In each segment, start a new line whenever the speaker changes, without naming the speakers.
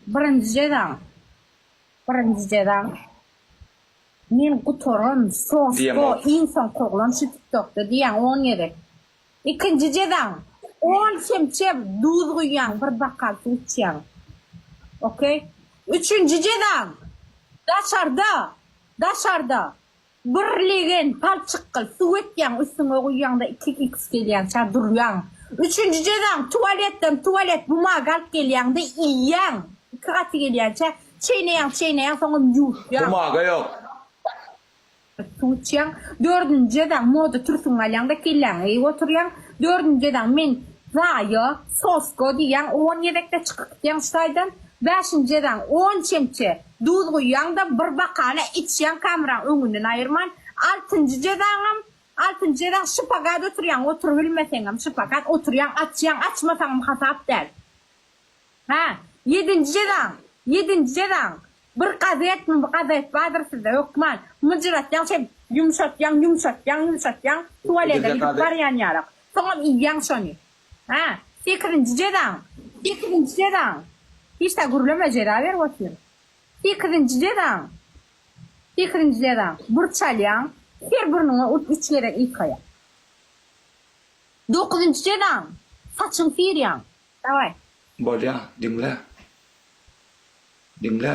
Birinji jezaň. Birinji jezaň. Men gutaran sosko iň soň koglan şu tiktokda diýýän on gezek. Ikinji jezaň. On çemçe duz guýýaň bir bakal suw içýäň. Okey. Üçünji jezaň. Daşarda. Daşarda. Bir legen palçyk kyl suw etýäň üstüňe guýýaňda iki iks gelýänçä durýaň. Üçünji jezaň tuwaletden tuwalet bumaga alyp gelýäňde iýýäň iki gaty gelýänçä çeýneýäň çeýneýäň soňam ýuwutýaň. Bumaga ýok.
Suw içýäň.
Dördünji jezaň moda türsüňi alýaňda kelläňi eýip oturýaň. Dördünji jezaň men zaýo, sosko diýýäň on gezekde çykyp gidýäň şu taýdan. Bäşinji jezaň on çemçe Duz guýýaň-da, bir bakana içýäň kameraň öňünden aýyrman. Altynjy jezaňam, altynjy jezaň şpagat oturýaň, oturybilmeseňem şpagat oturýaň, açýaň, açmasaňam hasap däl. Hä, ýedinji jezaň, ýedinji jezaň, bir gazetmi, bir gazet bardyr sizde hökman, myjyratýaň şeýdip, ýumşatýaň, ýumşatýaň, ýumşatýaň, tuwalede gidip barýan ýaly, soňam iýýäň şony. Hä, sekizinji jezaň, sekizinji jezaň! Hiç-da gürleme, jeza berip otur. Sekizinji jezaň, sekizinji jezaň! Bir çalýaň, her burnuňa urt üç gezek ýykaýaň. Dokuzynjy jezaň, saçyňy syrýaň. Dawaý. Bolýa,
diňle. Diňle.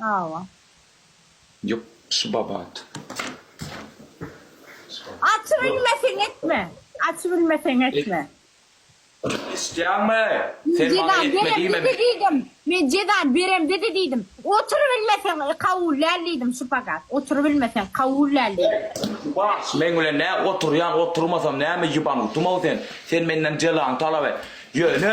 Hawa. Ýok şybabat.
Açy bilmeseň
etme. Açy bilmeseň etme. Eşitýäňmi? Sen maňa etme diýme men. Men jezany
beremde-de diýdim. Otur bilmeseň kabul däl diýdim şypagat. Otur bilmeseň kabul däl diýdim. Şybagat meň
bilen nä oturýaň oturmasam näme ýyban gutumyň sen. Sen menden jezaňy talap et. Ýöne.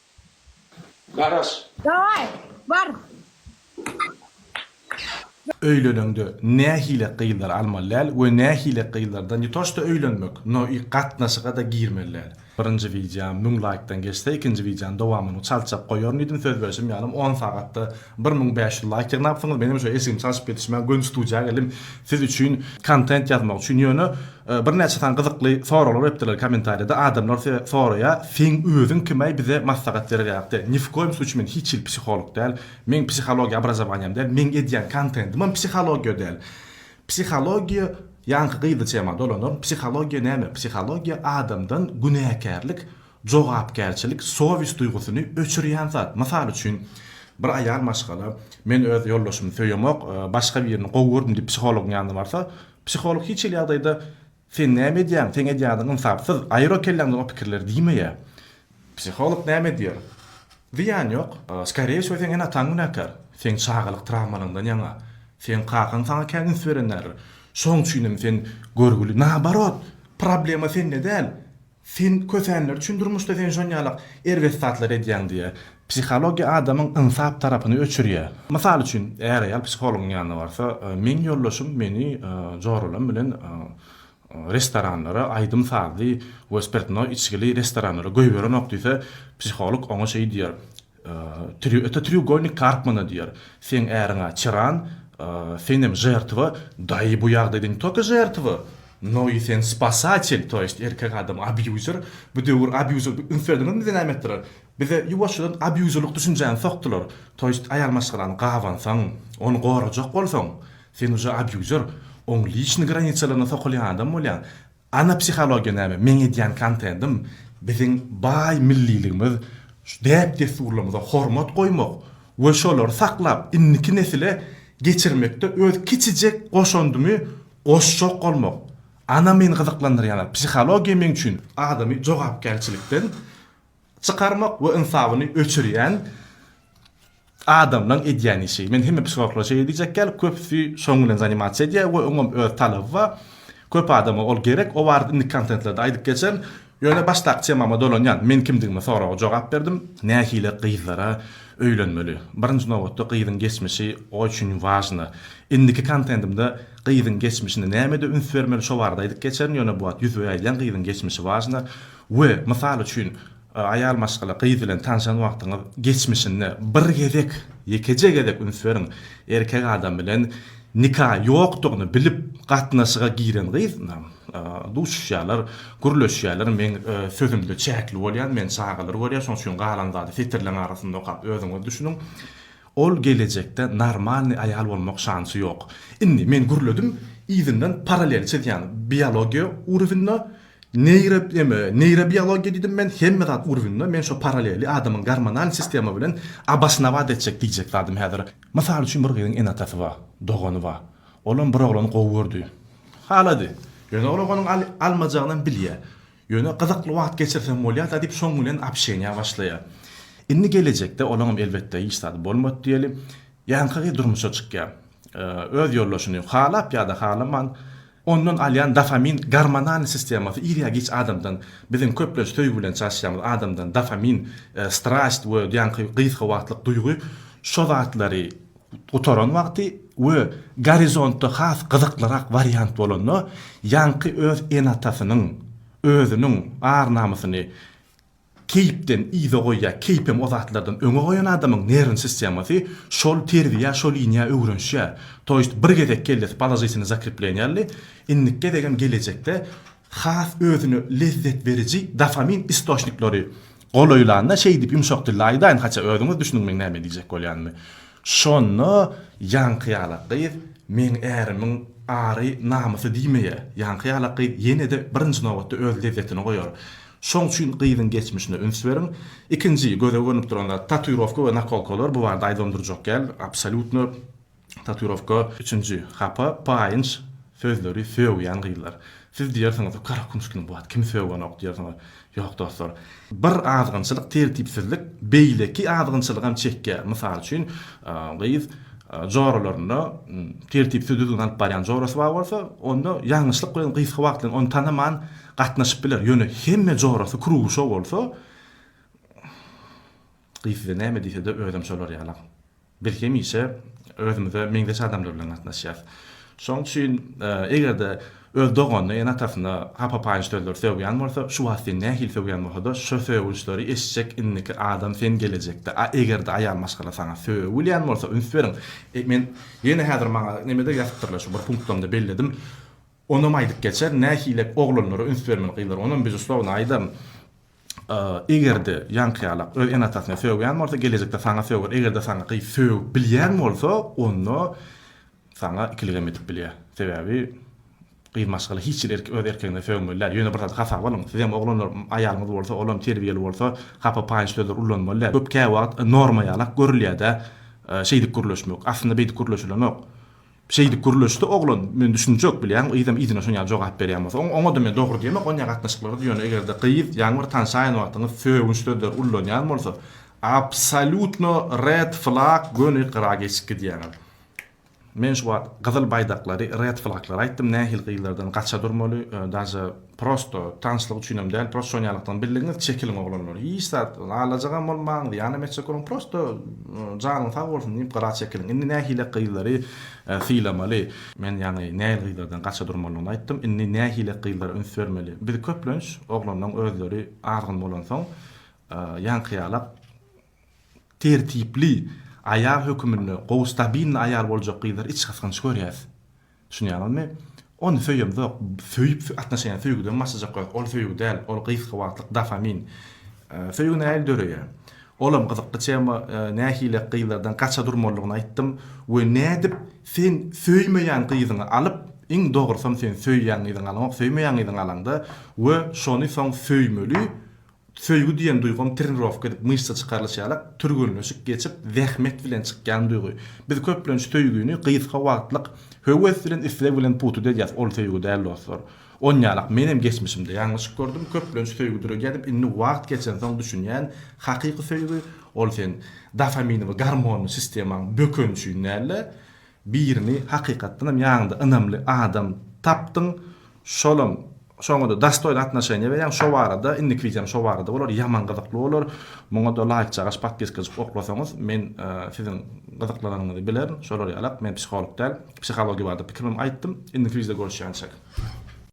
Garaş. Daway,
bar.
Öýleneňde nähili gyzlary almaly däl we nähili gyzlardan ne to što öýlenmek, no i gatnaşyga-da girmeli däl. Birinji wideam müň laýkdan geçse ikinji wideanyň dowamyny çaltjak goýaryn diýdim söz berşim ýalym on sagatda Bir müň bäş ýüz laýk ýygnapsyňyz menem şo eşigim çalşyp ýetişmän göni studiýa geldim siz üçin kontent ýazmak üçin ýöne birnäçe sany gyzykly soraglar beripdirler komentariýada adamlar size soraýa seň özüň kimäý bize maslahat bererýakde ni w koýum suçy men hiç hili psiholog däl meň psihologiýa abrazowanýam däl meň edýän kontentimem psihologiýa däl psihologiýa ýaňky gyzlyçäma dolanaryn psihologiýa näme psihologiýa adamdan günäkärlik Jogapkärçilik sowis duýgusyny öçürýän zat. Mysal üçin, bir aýal maşgala, Men öz ýoldaşymy söýemok, başga birini gowy gördüm diýip psihologyň ýanyna barsa, psiholog hiç hili ýagdaýda Sen näme edýäň, seň edýän zadyň ynsapsyz, aýyr o kelläňden o pikirleri diýmeýär. Psiholog näme diýer? Zyýany ýok. Skore wşo seň ene-ataň günäkär. Seň çagalyk trawmalaňdan ýaňa. Seň kakaň saňa kän üns beren däldir. Şoň üçinem sen görgüli. Naoborot, problema sende däl. Sen kösenler üçin durmuşda sen şonýalak erbet zatlary edýäň diýýä. Psihologiýa adamyň ynsap tarapyny öçürýä. Mysal üçin är-aýal psihologyň ýanyna barsa, meň ýoldaşym meni joralam bilen restoranlara, aýdym-sazly we spirtnoý içgili restoranlara goýberenok diýse, psiholog oňa şeý diýer, Öte treugolnik karp mana diýer, seň äriň-ä çyran, senem žertwa, daýy bu ýagdaýda ne toka žertwa, no i sen spasatel, to ýest erkek adam abýuzer, bu döwür abýuzer bir üns berdiňizmi bize näme etdiler, bize ýuwaşjadan abýuzerlik düşünjäni sokdular, to ýest aýal maşgalany gabansaň, ony gorajak bolsaň, sen uje abýuzer, oň liçny granisalaryna sokulýan adam bolýaň, Ana psihologiýa näme? Meň edýän kontentim biziň baý milliligimiz, däp-dessurlarymyza hormat goýmak we şolary saklap, indiki nesile geçirmekde öz kiçijek goşandymy goşjak bolmak. Ana meni gyzyklandyrýan zat, psihologiýa meň üçin adamy jogapkärçilikden, çykarmak we ynsabyny öçürýän adamlaň edýän işi. Men hemme psihologlara şeýle diýjek ýaly, köpüsi şoň bilen zanimasiýa edýär we oňam öz talaby bar. Köp adama ol gerek. O barada indiki kontentlerde aýdyp geçerin. Ýöne başdaky temama dolanýan. Men kimdigime soraga jogap berdim. Nähili gyzlara öýlenmeli? Birinji nobatda gyzyň geçmişi o üçin wažna. Indiki kontentimde gyzyň geçmişine nämede üns bermeli şo barada aýdyp geçerin. Ýöne bu wagt ýüzbe aýdýan gyzyň geçmişi wažna. We, mysal üçin, aýal maşgala, gyz bilen tanşan wagtyňyz geçmişinde bir gezek, ýekeje gezek üns beriň, erkek adam bilen nika ýokdugyny bilip gatnaşyga giren gyz bilen duşuşýarlar, gürleşýärler, meň sözümde çäkli bolýan, men çagalar görýän, şoň üçin galan zady setirleň arasynda okap özüňiz düşüniň, ol gelejekde normalnyý aýal bolmak şansy ýok. Indi, men gürledim, yzyndan paralel çizýän, biologiýa urwinda Neýro eme neýrobiologiýa diýdim men hemme zat urbunda men şo paraleli adamyň gormonal sistema bilen obosnowaat etjek diýjek zadym häzir mysal üçin bir gyzyň ene atasy bar dogany bar olam bir oglany gowy gördi halady ýöne ol oganyň al almajagynam bilýä ýöne gyzykly wagt geçirsem bolýa da diýip şoň bilen obşeniýa başlaýa indi gelejekde olaňam elbetde hiç zady bolmady diýeli ýaňky gyz durmuşa çykýa öz ýoldaşyny halap ýada halaman Ondan alýan dofamin gormonal sistemasy ir ýa giç adamdan, biziň köplenç söýgi bilen çalyşýamyz adamdan dofamin, strast we ýaňky gysga wagtlyk duýgy şo zatlary gutaran wagty we gorizontda has gyzyklyrak wariant bolanda ýaňky öz ene-atasynyň, özüniň ar-namysyny Keýpden yza goýýar, keýp hem o zatlardan öňe goýan adamyň nerwni sistemasy şol terziýa, şo liniýa öwrenişýär. To ýest bir gezek kellesi položitinýa zakrepleniýarly, indiki gezegem gelejekde has özüne lezzet beriji dofamin istoçnikleri golaýlanda şeýdip ýumşak dilde aýdaýyn, haça özüňiz düşüniň meň näme diýjek bolýanymy. Şonda ýaňky ýalak gyz meň ärimiň ary, namysy diýmeýär. Ýaňky ýalak gyz ýene-de birinji nobatda öz lezzetini goýar. Şoň üçin gyzyň geçmişine üns beriň. Ikinji göze görnüp duran zat tatuirowka we nakolkalar, bu barada aýdylanyp durjak däl, absolýutno tatuirowka. Üçünji hapa, paýynç sözleri sögýän gyzlar. Siz diýersiňiz, gara kümüş kimin bu wagt kimi sögenok diýersiňiz. Ýok dostlar. Bir azgynçylyk, tertipsizlik beýleki azgynçylygam çekýär. Mysal üçin, gyz joralarynda tertipsiz düzgün alyp barýan jorasy bar bolsa, onda ýalňyşlyk bilen gysga wagt bilen ony tanaman, Gatnaşyp biler, ýöne hemme jorasy Kruguşow bolsa, gyz size näme diýse-de özem şolar ýalam. Biz hemişe özümize meňzeş adamlar bilen gatnaşýas. Şoň üçin eger-de öz doganyna, ene-atasyna hapa-paýyş sözler sögýän bolsa, şu wagt seni nähili sögýän bolsa-da, şo sögünçleri eşitjek indiki adam sen gelejekde. A eger-de aýal maşgala saňa sögülýän bolsa, üns beriň. Men ýene häzir maňa neme-de ýazypdyrlar, şu bir punktlymda belledim. Onam aýdyp geçer, nähile oglanlara üns bermeli gyzlar, onam bezuslowno aýdaryn. Eger-de ýaňkyýalak öz ene-atasyny sögýän bolsa, gelejekde saňa söger, eger-de saňa gyz sögüp bilýän bolsa, onda saňa ikiligem edip bilýär. Sebäbi gyz maşgala hiç hili erkek öz erkegine sögmeli däl. Ýöne bir zady hasaba alyň, sizem oglanlar aýalyňyz bolsa, olam terbiýeli bolsa, hapa paýyş sözleri ulanmaly däl. Köp käwagt norma ýalak görülýär-dä, şeýdip gürleşmek. Aslynda beýdip gürleşilenok. Şeýdip gürleşdi oglan, Men düşünjek, bilýäňmi, yzam yzyna şon ýaly jogap berýän bolsa, oň, oňa-da men dogry diýmek, oň ýaly gatnaşyklarda, ýöne eger-de gyz, ýaňy bir tanşaýan wagtyňyz sögünç sözleri ullanýan bolsa, absolýutno red flag, göni gyra geçip gidýäňiz. Men şu wagt gyzyl baýdaklary, red flaglary aýtdym, nähili gyzlardan gaça durmaly, daže, Prosto, tanşlyk üçinem däl, prosto şon ýalakdan birligiňiz çekiliň oglanlar, hiç zat alajagam bolmaň, zyýanam etjek bolmaň, prosto janyň sag bolsun diýip gyra çekiliň, indi nähile gyzlary sylamaly, men ýaňy nähili gyzlardan gaça durmalyny aýtdym, indi nähile gyzlara üns bermeli, biz köplenç oglanlaň özleri azgyn bolansoň ýaňky ýalak tertipli aýal höküminde gowy stabilny aýal boljak gyzlary içgysgynç görýäs. Düşünýäňizmi? Ony söýemzok. Söýüp atnaşenýa söýgüden başlajak bolýas. Ol söýgi däl. Ol gysga wagtlyk dofamin. Söýgi nähili döreýär? Olam gyzykly tema. Nähilek gyzlardan gaça durmalydygyny aýtdym we nädip sen söýmeýän gyzyňy alyp, iň dogrusam sen söýýän gyzyňy alaňok, söýmeýän gyzyňy alaňda we şony soň söýmeli, Söýgi diýen duýgam trenirowka edip myşsa çykarylyş ýalak, türgenleşik geçip, zähmet bilen çykýan duýgy. Biz köplenç söýgini gysga wagtlyk höwes bilen, isleg bilen putut edýäs, ol söýgi däl dostlar. Onýalak menem geçmişimde ýalňyşyk gördüm, köplenç söýgi döredýädim, indi wagt geçensoň düşünýän, hakyky söýgi, ol sen dofaminini, gormonyny sistemaň bökeni üçin däl-de, Birini hakykatdan hem ýaňyňda ynamly adam tapdyň, şolam şoňada dastoýn atnoşeniýa berýäň, şo barada indiki wideom şo barada bolar, ýaman gyzykly bolar, muňada laýk çagaş podpiskajyk oklasaňyz men siziň gyzyklananyňyzy bilerin, şolar ýalak, men psiholog däl, psihologiýa barada pikirimi aýtdym, indiki wideo görüşýänçäk.